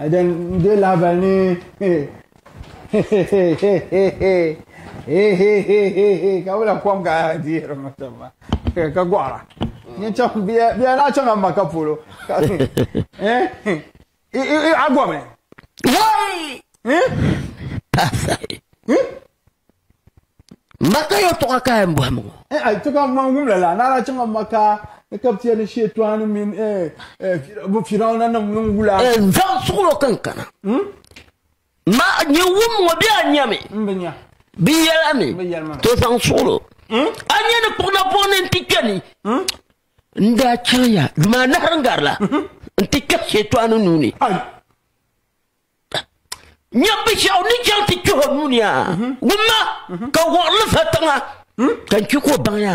Ɛdɛn n-deei lahibali ni ka wula kom ka dihiri ŋɔ tɔbu maa ka gɔɣira ni chaŋ bɛ yaa lahi chaŋla Maka polo ka a gɔmi. Hey! Hey! Pastor. Hmm? Maka yɛltɔɣa ka yɛn bɔhimi ŋɔ. N a ti ka man wumla la, naara chaŋa Maka ni ka bɛ ni Shɛtɔni mini bɛ Firawuna nim niŋ wula. N zaŋ suɣulo kan kana. Ma nyɛ wum ŋɔ bɛ a nyami? M bi nya. Bɛ yɛla mi? Bɛ yɛli ma. To zaŋ suɣulo. A nya ni kpuɣi na buɣi ni n ti kpɛ ni? N daa chaŋ ya, dama a nahiri n garila n ti kpɛhi Shɛtɔni nuu ni. Nyɛbishaw ni chaŋ ti kpɛh o nuuni a wumma ka wɔɣili fa tiŋa ka n kpi ka o baŋ ya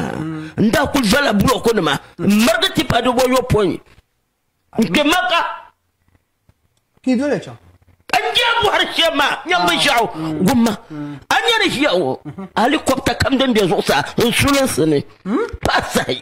n daa kuli zala bulɔku nima n marigi tipa di wɔyɔpɔin n kpɛ maka Ki dole chaŋ. n jaa bɔhiri shɛm maa nyɛbishaw wumma a nya ni ʒiya ŋɔ alikɔbta kam din be zuɣusaa n sulinsi ni pahi sahi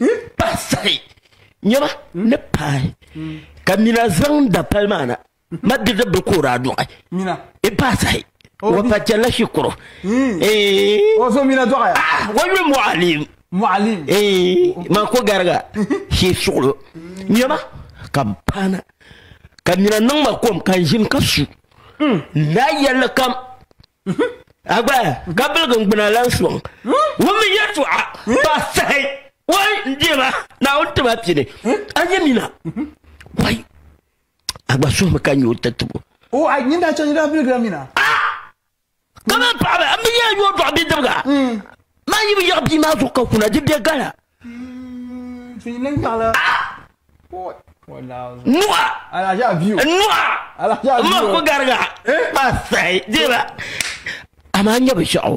n pahi sahi nyɛma ni pahi ka mina zaŋ da pali maa na ma diridi bili ka o daa dɔɣi n pahi sahi wa pa chɛlla shikuru o so mina dɔɣaya wa yuli mɔɣalim mɔɣalim ma ko gariga shee suɣulo nyɛma ka m paana ka mina niŋ ma kom ka n ʒini ka su n daa yɛlli kam A gba ka biligi n gbuna lan sɔŋ ŋun mi yɛltɔɣa pa sahi wai n deema Naawuni ti ma pini a nya mina wai a gba suhimi ka nya o tatibo o a nyin daa chɛ nyin daa biligira mina kamani paɣaba a mi yɛn yɔdɔɣa bidibiga maa yi bi yiɣi bia maa zuɣu ka kuna di bɛ gala Nuwa nuwa ma ko gariga pa sai dira amaa nyɛ bi shɛɣu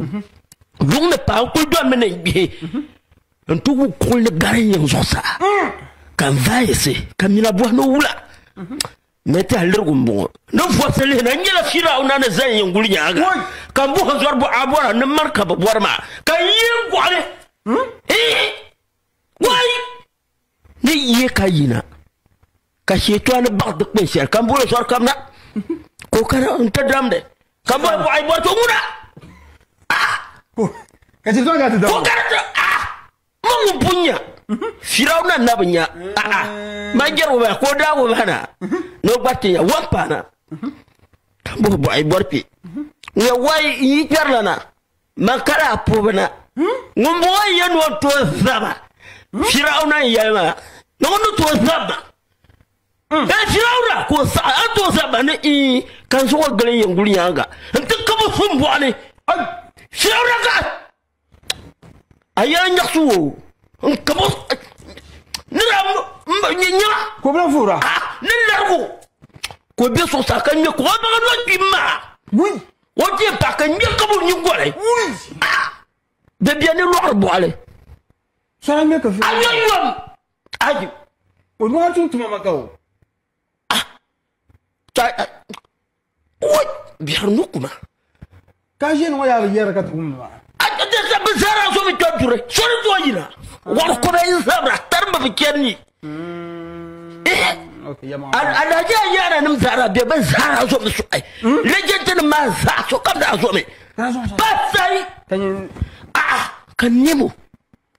luŋ ni paɣa n kuli dɔn mi ni n gbihi n ti wu kulli gari n yiŋ zuɣusaa ka n vaayisi ka mina bɔhi ni wula Ni tahilirigu m-bɔŋɔ. Ni vɔbisi lihi na nyɛla Firawuna ni zani yin guli nyaaŋa, ka m-bɔh n zɔri buɣa bɔra ni mani ka bɛ bɔri maa, ka n yi n gɔɣi li. Eeh! Wai! Ni yi ka yina, ka Shɛtɔani baɣi dikpin shɛli, ka m boli o zɔri kam na, ka o kana n-ti damdi, ka bɔhi buɣa yi bɔri to ŋuna? Ah! Ka Shɛtɔani kana ti damdi o? Maŋ bu nya, Firawuna na bi nya, a'a, man jɛri wumana ka o daa wumana na, ni o gbariti nya, wan paana, ka buhi bɔɣi bɔri kpe. Ŋuna wayi n yi kpɛrila na, man ka daa puhi bi na. Ŋun bɔŋɔ n yɛn ni o ni tooi zaba, Firawuna n yɛli ma ni ŋun ni tooi zab ma. Ee Firawuna, ka o saɣi, a ni tooi zab ma ni ii, ka n zuɣu gili n yɛn guli nyaaŋa, n ti kab o sumbɔɣu ni. Firawuna ka a yɛla nyaɣisi wo n kabo ni la nyɛ nyɛma ko bɛ fuura ni larigu ko bɛ suɣusaa ka ŋmɛ ko baŋa lɔ kpi maa o kpɛ pa ka ŋmɛ kabo nyi gɔli bɛ bɛ ni lɔɣiri bɔɣili a yɛn yɔm ayi o nɔɣa tum tuma ma ka o ah ka what biɛri ŋɔ kuma ka ʒini ŋɔ yaa bi yɛri ka ti wumdi maa bi zara so bi kpɛ duri so ni zuwa yina wari kɔbɛ n zabira tarimba bi chɛri ni alaji a yɛra nim zara bɛ bi zara so bi suɣi lɛjɛnti nim maa zaa so kam daa so mi ba sai ka nɛmo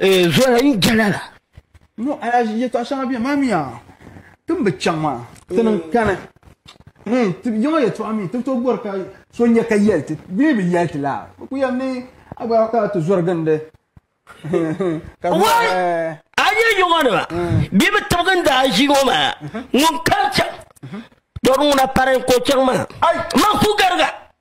Eh, zoya yi jala la. No, a ya ye tɔɣa shɛŋa bɛ maa mi ya tin bi chaŋ maa ti niŋ kani. Eh, ti yiŋɔ ye tɔɣa mi ti to bɔri ka so nya ka yɛli ti di mi bi yɛli ti la. Bi ku yɛm ni a gba ka ti zɔri gindi. Wai, eh. a nya yiŋɔ ni ba bɛ bi tibigi n daa ʒi ŋɔ maa ŋun kari chaŋ tɔri ŋuna pari n ko chaŋ maa man ku gariga.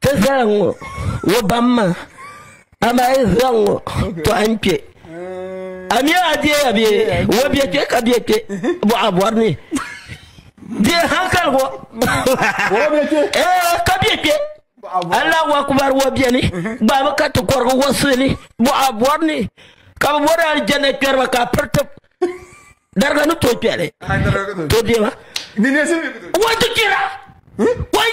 Ti zali ŋɔ wo bamma, amaa yi zaŋ ŋɔ tɔhi n kpe. Amiya a deeya bɛ wo bɛ kpe ka bɛ kpe bɔɣa bɔri ni. Deei hankali wo. Ee ka bɛ kpe. Allahu akubar wo bɛ ni gbaami ka ti kɔrigi wo suhi ni bɔɣa bɔri ni ka bɛ bɔri aljanna kpɛriba ka a piri tib. Dariga ni tooi kpɛli. Tooi deema. Wo ti kpira. Wai.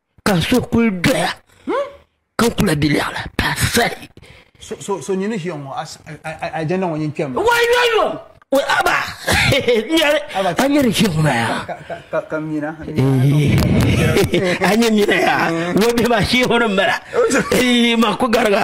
ka so kuli doya ka n kula bɛ lɛɣu la ka sali so nyini ʒiya ŋɔ ajɛnda ŋɔ nyin kpɛm wayoyo aba a nyɛ di ʒiya ŋɔ maya a nyɛ mina ya wo bɛ ma ʒiya ŋɔ ni mala ma ku gariga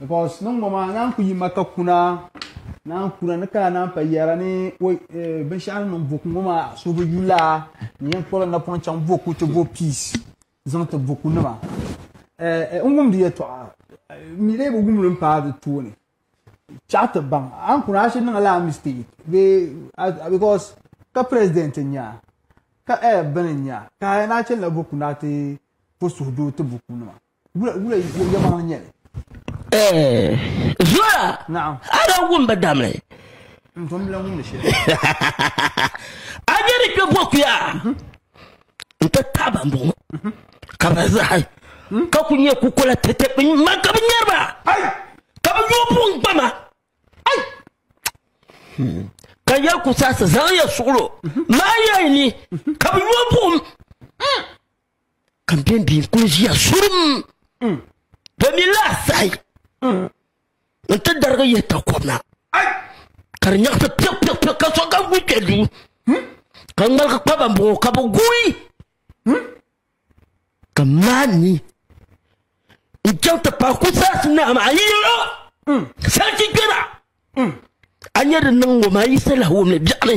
because niŋ ŋɔ maa naan ku yi ma ka kuna naan kuna ni kana naan pa yɛra ni eh, binshaɣu ni niŋ boku ŋɔ maa so bi yula ni yɛn kpɔri napɔŋ chaŋ boku ti bo peace zaŋ ti boku nima eh, eh, n wumdi yɛtɔɣa mi lee bi wumli n paai di tooni chaɣu ti baŋ an kuna a shi niŋla mistake because ka president n nya ka eh, bini n nya ka a yɛn a chɛlila boku na ti po suhudoo ti boku nima zora a da wum bi damli a nyɛ ni kpɛ bokuya n ti taaba n bɔŋɔ ka bi zahi ka ku nyɛ kukola tɛtɛ bi ma ka bi nyɛriba ka bi yoo pun gbama ka yɛ ku saɣasi zaŋ yɛ suɣulo maa yɛn ni ka bi yoo buɣum ka m bɛn bɛn kuli ʒiya zurum mm. domin laasai mm. n ti darigi yihi takɔb na ka di nyaɣisi piɛpiɛpiɛ ka so kam kuli kpɛ duu hmm? ka ŋmaligi kpa ban bɔŋɔ ka bi gui hmm? ka maa ni n chaŋ ti paai ku zaasi naa maa yi yɛlo hmm. sarchi kpɛra a nyɛ di niŋ ŋɔ maa yi sala wumli biɛɣuni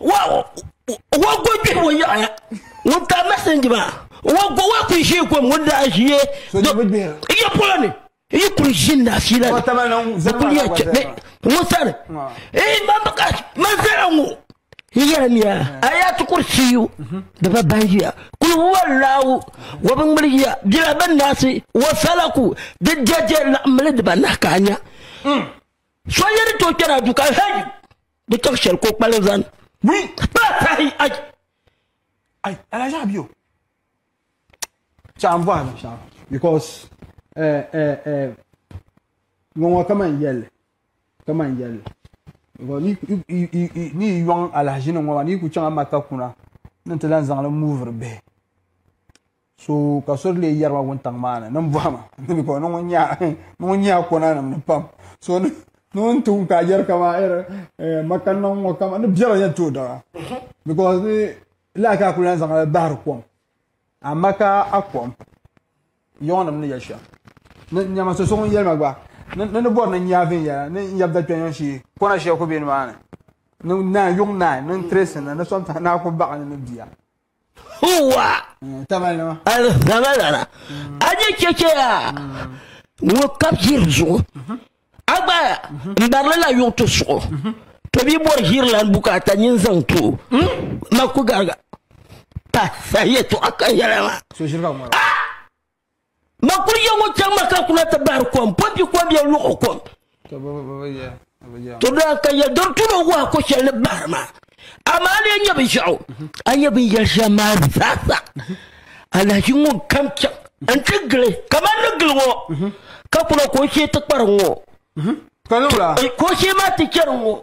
wa go bihi ŋun yaɣaya ŋun ka mɛsinji maa wa go wa kuli ʒi gom ŋun daa ʒiye iya polo ni yi kuli ʒi na fiila ni bi kuli yɛ chɛ ŋun sani ee man bi ka man zara ŋo yɛra miya a yaa ti kuri siyu di ba ban yiya kuli wari laawu wa bi ŋmuli yiya bila bin naasi wa sala ku di jɛjɛ laɣamli di ba nahi ka a nya so yɛri to kpɛra du ka hɛji di tɔɣu shɛli ka o kpalim zani wii pa tahi ai ai alaji abiyo shɛm bɔhi ni shɛm because eh, eh, eh, ŋɔŋɔ kaman yɛlli kaman yɛlli ni yi yɔŋ alahaji ni ŋɔ maa ni yi ku chaŋ a maka kuna ni ti lan zaŋli muuviri bihi so ka so lee yɛrima wuntaŋ maa ni ni n bɔhima ni mi kɔ ni ŋun nyɛla kɔna nim ni pam so ni ŋun ti wum ka yɛri kama eh, makani na ŋɔ kama ni biɛla yɛn tooi dara because ni lahi ka kuli zaŋ bahiri kom a maka a kom yɔŋ nim ni yɛ shɛm ni nyɛma so so ŋun yɛrima gba ni ni bɔri ni nya viɛnyɛla ni n yɛbda kpɛnyɔn shee kɔna shɛli ku bɛ ni maa ni ni naan yuŋ naan ni n tiresi ni ni sɔmta ni a ku baɣa ni ni bia Huwa! Alzamalara, a ni chɛchɛ yaa ŋun kab ʒiri zuɣu. A gbaaya n barili la yuɣ ti suɣu. Ti bi bɔri ʒiri lan bukaata nyin zaŋ ti o. Ma ku gariga pa saha yɛtɔɣa kan yɛla maa. Ma kuli yɛ ŋun chaŋ ma ka kuna ti bahiri kom, pɔmpi kɔbia luɣu kom. To daa ka yɛ dɔri tuno wahi ko shɛli ni bahiri ma, amaa a lee nyɛ binshɛɣu, a nyɛ binyɛri shɛm maa zaasa. Alahachi ŋun kam chaŋ n-ti gili kaman ni gili ŋɔ, ka kuna ka o shee ti kpari ŋɔ, ka o shee maa ti chɛri ŋɔ.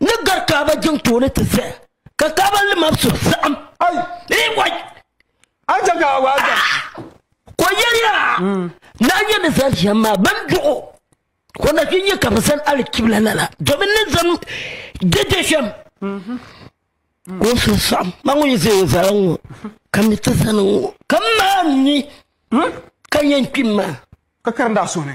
ni gari kaaba jiŋ tooni ti zaya ka kaaba limam so saɣim ko yɛliya na n yɛn ni zali shɛm maa ban duɣu ko na fi nyɛ ka bi zani alikibla lala domin ni zani dede shɛm ko so saɣim ma ŋun yi zaya o zala ŋɔ ka mi ti zani ŋɔ ka maa ni ka yɛn kpim maa ka karinda suhuni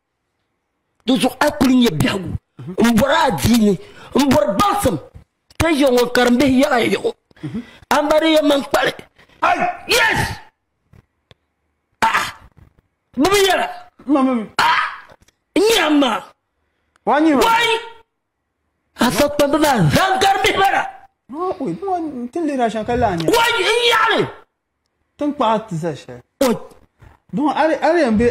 di zuɣu a kuli nyɛ biɛhigu n bɔri a diini n bɔri gbaŋsim ka ʒe ŋɔ karimbihi yaɣa yaɣo ambariya man kpali yes ah bi bi yɛra ah n nyɛ amma wani afa kpambi maa zaŋ karimbihi bara wani n yaɣali tinkpaɣu ti za shɛli dɔn a di yɛn be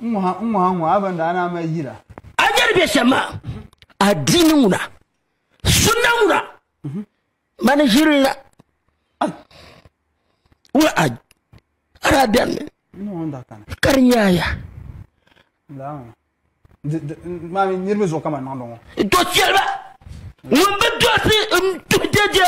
n ŋɔ ha n ŋɔ ha ŋɔ a ban daa naa mali yira a yɛri bɛ shɛm maa adiini ŋuna sunna ŋuna mhm. mani ʒirila ŋuna a ara bɛnni ka di nyaaya niriba zuɣu kama niŋdi ŋɔ do chɛliba ŋun bi dosi n tuhi dɛdɛ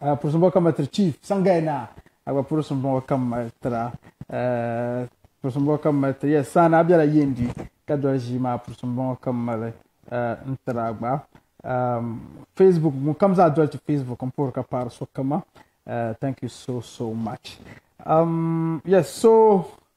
a gba purisim bɔŋɔ kam tiri chief sangai naa a gba purisim bɔŋɔ kam tira purisim bɔŋɔ kam mali tiri yes saana a bela yendi ka doli ʒii maa purisim bɔŋɔ kam mali n tiri a gba facebook ŋun kam zaa doli ti facebook n puhiri ka paɣiri so kama thank you so so much um, yes so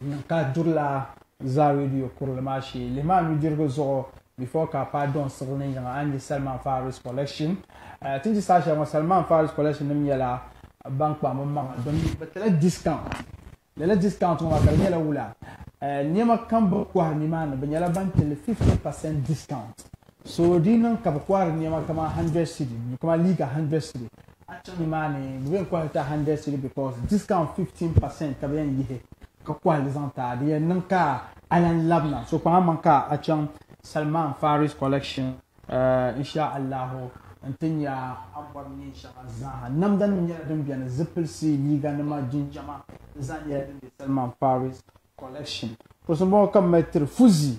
N ka duri la zaa radio kurili maa shee. Lihi maa nudirigu zuɣu before ka a paai Don siɣili ni yiŋa a ni nya Salman Faris collection. Ti ni ʒi saha shɛli ŋɔ Salman Faris collection nim nyɛla ban kpaŋ bi maŋa domi bi tila discount. Lala discount ŋɔ maa ka di nyɛla wula? Niɛma kam bini kohiri nimaani bi nyɛla ban tili 50% discount. So di niŋ ka bi kɔhiri nɛma kama hundred cedi ni kama liiga hundred cedi a chaŋ nimaani bi bɛn kɔhiri ta hundred cedi because discount fifteen percent ka bi yɛn yihi ka kɔhiri zaŋ ta di yɛn niŋ ka a lan labina so kpaŋa maŋ ka a chaŋ Salman Faris collection insha Allahu n ti nya a bɔri neen shɛŋa zaa namda nim nyɛla din bɛni zipilisi liiga nima jinjama di zaa nyɛla din bɛ Salman Faris collection kuɣusi n bɔŋɔ ka bi mali tiri fuzi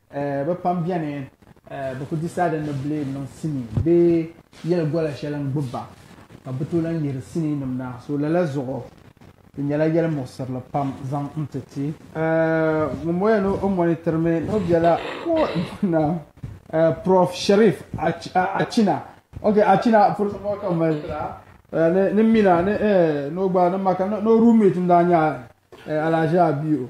Bɛ pam beni bɛ ku di saada ni Blade niŋ sinii bee yɛli gola shɛli n-gbubi ba ka bɛ tooi lahi yihiri siniinim na. So lala zuɣu di nyɛla yɛli muɣisirili pam zaŋ n-ti ti. Ŋun bɔ ya ni o mɔnitirimi ni o biɛla ko naam Prof Sherif Achina. Ok Achina pɔlisi bɔŋɔ ka m mali yɛla ni Mina ni o gba ni Maka ni o room mate n-daa nyɛ Alahaji Abiyo.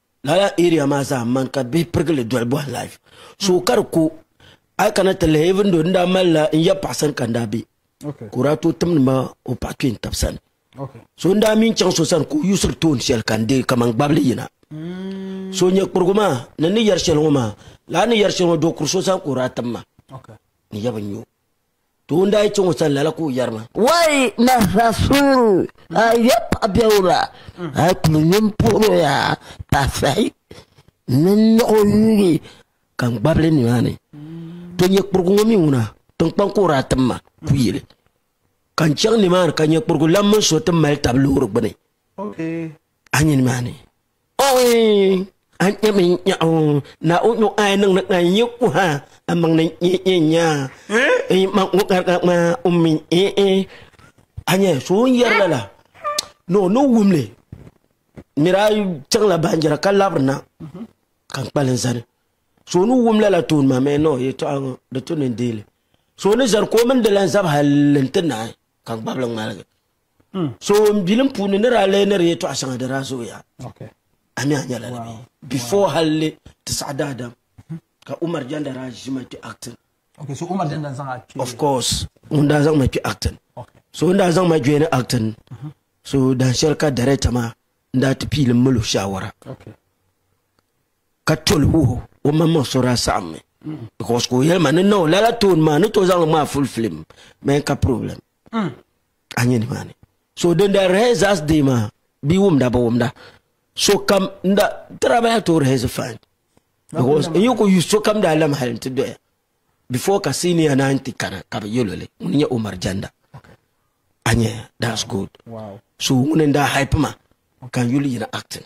Lala area maa zaa m mani ka bihi pirigi li doli bɔhi life so ka di ku a yi kana ti lihi even though n daa malila n ya paɣa sani ka n daa be ka o daa tooi timdi ma o paɣa kpee n tabi sani so n daa mi n chaŋ so sani ka o yuusiri toon shɛli ka n deei kamani gbabili yina mm. so nyɛ kurigu maa ni ni yɛri shɛli ŋɔ maa laa ni yɛri shɛli ŋɔ do kuri so sani ka o daa tim ma ni yɛ bi nyo Doo n-daa yi chaŋ o sani lala ka o yɛri ma. Wai Nasra Sooro, a ya paɣa biɛwura, a yi kuli nyin puhir o ya paɣa sahi ni n niɣ o yuugi ka n gbabili nimaani. To nyɛ kpurigu ŋɔ mi ŋuna, tiŋkpaŋ ka o daa tim ma ku yili. Ka n chaŋ nimaani ka nyɛ kpurigu lan mini so ti mali tab loori gbini. a nyini maa ni. Ɔɔii! A nyami n-nyaɣi o, Naa o nyɔŋ a yi niŋdi ka n yi ku ha, a maŋ ni n-yi yi nya. N yi maŋ ŋɔ gariga ŋmaa o mi n-yi. A nya so o ni yɛri lala ni o ni wum li, miri a chaŋla baanjira ka labiri na ka n kpali n zani. So o ni wum lala tooni maa mi ni o yɛtɔɣa ŋɔ di tu ni n deei li. So o ni zani ka o mini di lan zabi hal n-ti naai ka n gbab li ŋmaligi. Hmm. So n bilim puuni ni daa lee ni di yɛtɔɣa shɛŋa di daa zooya. A mi a nyɛla ni mi. Before halli ti saɣa daadam mhm. ka Umar Janda daa ʒi ma kpi acting. Okay, so Umar Janda zaŋ a kpi. Of course, ŋun daa zaŋ ma kpi acting. So n daa zaŋ ma join acting. Mhm. So dan shɛli ka director maa n daa ti piilim mali o shawara. Okay. ka toli wuhi o maŋ maŋ sɔra saɣam mi because ka o yɛli ma ni na o lala toon maa ni to zaŋli ŋmaa full film mɛ ka problem Hmm. A nyɛ nimaani. So din da rehearsals day maa bi wumda bi wumda so kam n da tira baya to rehearse fine. Because n yi ku use so kam daa lam hali n ti doya. Before ka senior na n ti kana ka bi yɛlo li ŋuni nyɛ Umar Janda. A nyɛ that's good. So ŋuni n daa hype ma ka n yuli yina acting.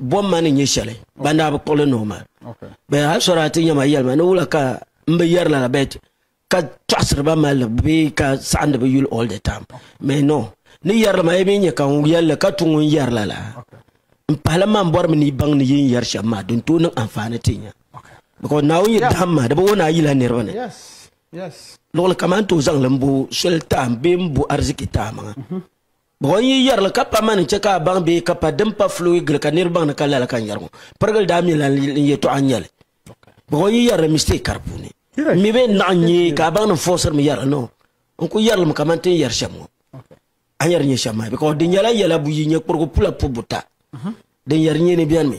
Bom ma ni nyɛ shɛli ban daa bi kpuɣili ni o ma bɛn hali sɔri ati nyɛma yɛlima ni wula ka n bi yɛri lala bɛt ka tɔɣisiri ba malli bee ka saɣindi bi yuli all the time mɛ no ni yɛri ma yi mi nyɛ ka n yɛlli ka tu ŋun yɛri lala n pahila man bɔri mi ni baŋ ni yi n yɛri shɛm maa din tooi niŋ anfaani ti nya because naawuni yɛ dahim ma di bi wo naa yila niriba ni luɣili kamani ti o zaŋli n bo soli taam bee n bo ariziki taamaŋa Buɣim yi yɛri li ka pa mani chɛ ka a baŋ bee ka pa din pa fluui gili ka nir baŋ ni ka lala ka n yɛri ŋɔ. Pirigili daa mi lan n yɛtɔɣa n-nyɛli. Buɣim yi yɛri li mistake ka di puuni. M mi bee n-naɣ n-nyɛ ka a baŋ ni m fɔɣisiri mi yɛri li no. N ku yɛri li mi kaman ti ni yɛri shɛm ŋɔ. A ni yɛri nyɛ shɛm maa because di nyɛla yɛla buyi nyɛ kpurigu pula pubu buta din yɛri nyɛ ni bɛni mi.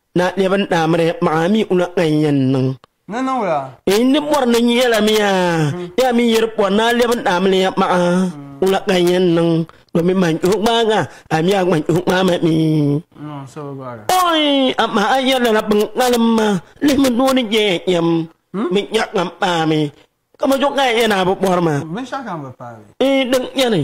Na nɛba n daa miri maɣa mi una ŋan yɛn niŋ. Ni niŋ la. N ni bɔri ni n yɛla mi ya, ya mi yiri bɔri ni a lɛbi n daa miri maɣa una ŋan yɛn niŋ, domin man yuhi gbaaga, a mi a gba yuhi gbaai ma mi. Ɔi, amaa a yɛli la bin ŋalim ma, lihimi doo ni je ya yɛm, binshɛɣu kam paai mi, ka ma zuɣu ka ya yɛn a bi bɔri ma. Binshɛɣu kam bi paai mi. N din yɛni.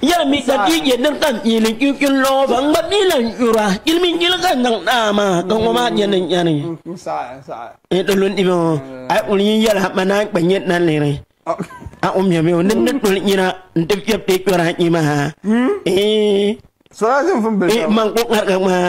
Yɛli mi ka di nyɛ din kam yi ni kpi kpini lɔɔ ba ŋgba mi lan nyura yili mi nyili ka niŋ naa maa ka ŋɔ maa nyɛ ni nyani e di lu nimi o a ŋun yi yɛla ma naa kpa nyɛ na liri a o mi mi o ni ni toli nyina n ti fiɛ pe kpɛra nyi maa ee man ko ŋarga ŋmaa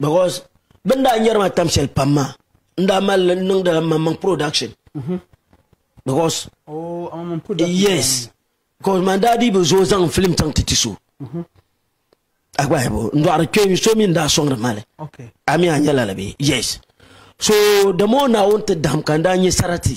because bin daa nyɛri ma tam shɛli pam maa n daa mali niŋdila maŋmaŋ production mhm. because oh, yes because man daa dii bi zooi zaŋ film chaŋ ti ti so mhm. agbahibo n dɔɣiri kpɛ so mi n daa sɔŋdi mali a mi a nyɛla la bee yes so the more naawuni ti dahim ka n daa nyɛ sarati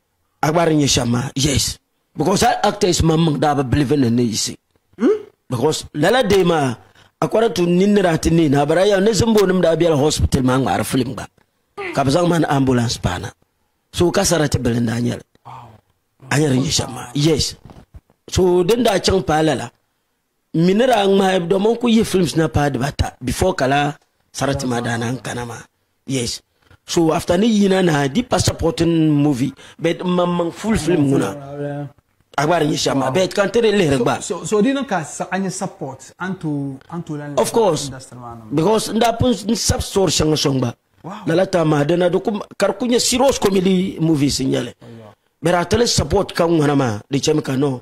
a gba di nyɛ shɛm maa yes because a actors man miŋ daa bi bilivi ni ni yisi hmm? because lala dee maa according to nin ni daa ti neei na bara yɛm ni zimbo nim daa biɛla hospital maa ŋmaari film gba ka bi zaŋ mani ambulance paana so ka sarati bili n daa nyɛli a nyɛ di nyɛ shɛm maa yes so din daa chaŋ paai lala N mi ni daa ŋmahi domi n ku yihi films na paai dibata before ka laa sarati maa daa naan kana maa yes so after ni yina nahi di pa supporting movie but n maŋ maŋ full film ŋuna a gba di nyɛ shɛm maa but ka n ti di lihiri gba So so di niŋ ka sa- a nyɛ support a ni tooi a ni tooi lan of course industry maa niŋ because n daa pun n sab story shɛŋa sɔŋ gba Wow. lala tam maa dina di ku ka di ku nyɛ serious comedy movies n nyɛli but a ti li support ka ŋuna maa di chɛmi ka no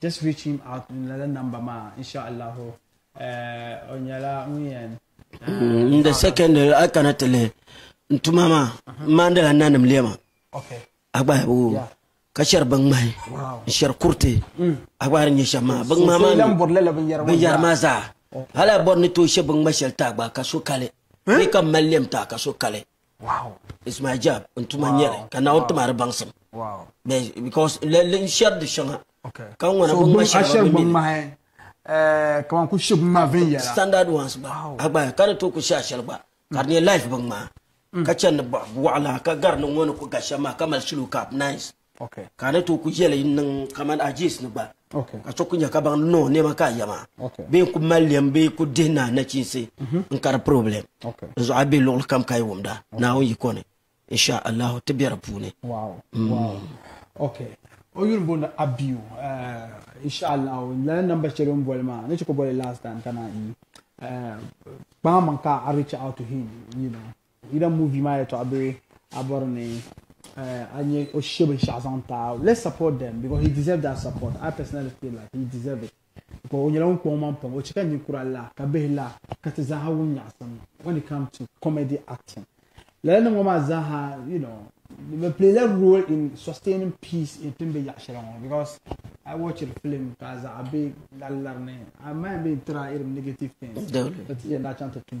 Just reach him out in lala number ma inshallahu eh, o nyɛla ŋun yɛn mm, in the second a kana ti lihi n tuma maa n maandila nanim lɛma a gba o ka shɛri bin ŋmahi n shɛri kuriti mm. a gba di nyɛ shɛm maa bin ŋmahi maa binyɛri maa zaa oh. hali a bɔri ni tooi shɛ bin ŋma shɛli taa gba ka so kali eh? ni ka mali lɛm taa ka so kali ismail jab n tuma n nyɛli ka naawuni ti maa di baŋsim because n shɛri di shɛŋa ka ŋɔna bin ŋma shɛŋa bi mini eh, kaman ku shib ma viɛnyɛla standard ones gba a gba ka di tooi ku shɛ ashɛli gba ka di nyɛ life bin ŋmaa mm. ka chɛni ni bɔɣa waɣala ka gari ni ŋɔ ni ku ga shɛm maa ka mali shilo cap nice Ka a ni tooi ku yɛli n-niŋ kamani Ajiis ni gba, ka so ku nya ka baŋ ni o nɛma ka a ya maa, bee n-ku mali lɛm bee ku dihi naa nachiinsi n-ka di purɔblɛm. N zuɣu a be luɣili kam ka yi wumda Naawuni yiko ni, inshaa Allahu ti be di puuni. O yuli booni Abiyu, inshaa Allahu lala namba shɛli o ni boli maa ni chɛ ka o boli last time ka naan yi kpaai maŋ ka a reach out to him. Either movie maa yɛtɔɣa bee a bɔri ni eh, a nyɛ o she binshɛɣu zaŋ ti a. Let's support them because he deserve that support. I personally feel like he deserve it. Because o nyɛla ŋun kpuɣi o maŋ pam. O chɛ ka ninkura la, ka bihi la, ka ti zaaha wum nyaɣisim when it comes to comedy acting. Lala nim ŋɔ maa zaaha, you know, bɛ play la role in sustaining peace in tin be yaɣi shɛli ŋɔ because I watch it film ka zaɣa be lari lari ni. I mind be tira irim negative things. Dole. Ti yɛn daa chaŋ ti tum